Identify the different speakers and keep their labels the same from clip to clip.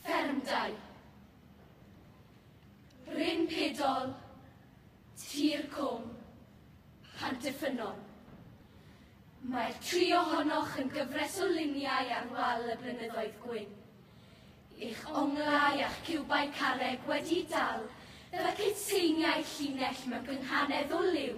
Speaker 1: Ffermdai. Bryn Pedol, Tir Cwm, Pantyffynnon. Mae'r tri ohonoch yn gyfres o luniau ar wal y blynyddoedd gwyn. Eich onglau a'ch ciwbau carreg wedi dal fel y cytseiniau llinell mewn gynghanedd o liw.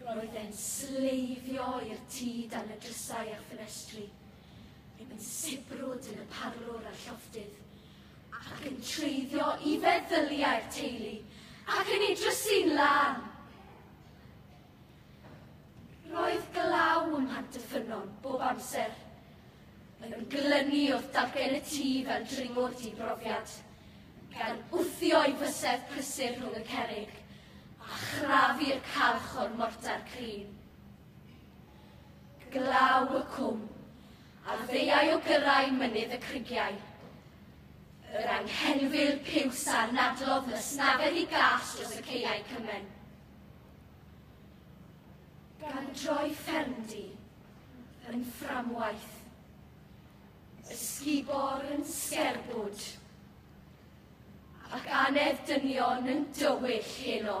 Speaker 1: Roedd e'n sleifio i'r tŷ dan y drysau a'r ffenestri, ddim yn sibrwd yn y parlwr a'r llofftydd, ac yn treiddio i feddyliau'r teulu ac yn ei drysu'n lân. Roedd glaw ym Mhant y Ffynnon bob amser, yn glynu wrth dargen y tŷ fel dringwr di-brofiad, gan wthio'i fysedd prysur rhwng y cerrig, a chrafu'r calch o'r mortar crin. Glaw y cwm, a ddeiau o gyrrau mynydd y crigiau. Yr anghenfil piws a'r nadlodd na snafedd i gas dros y ceiau cymen. Gan droi ffermdy yn fframwaith. Ysgubor yn sgerbwd, ac anedd dynion yn dywyll heno.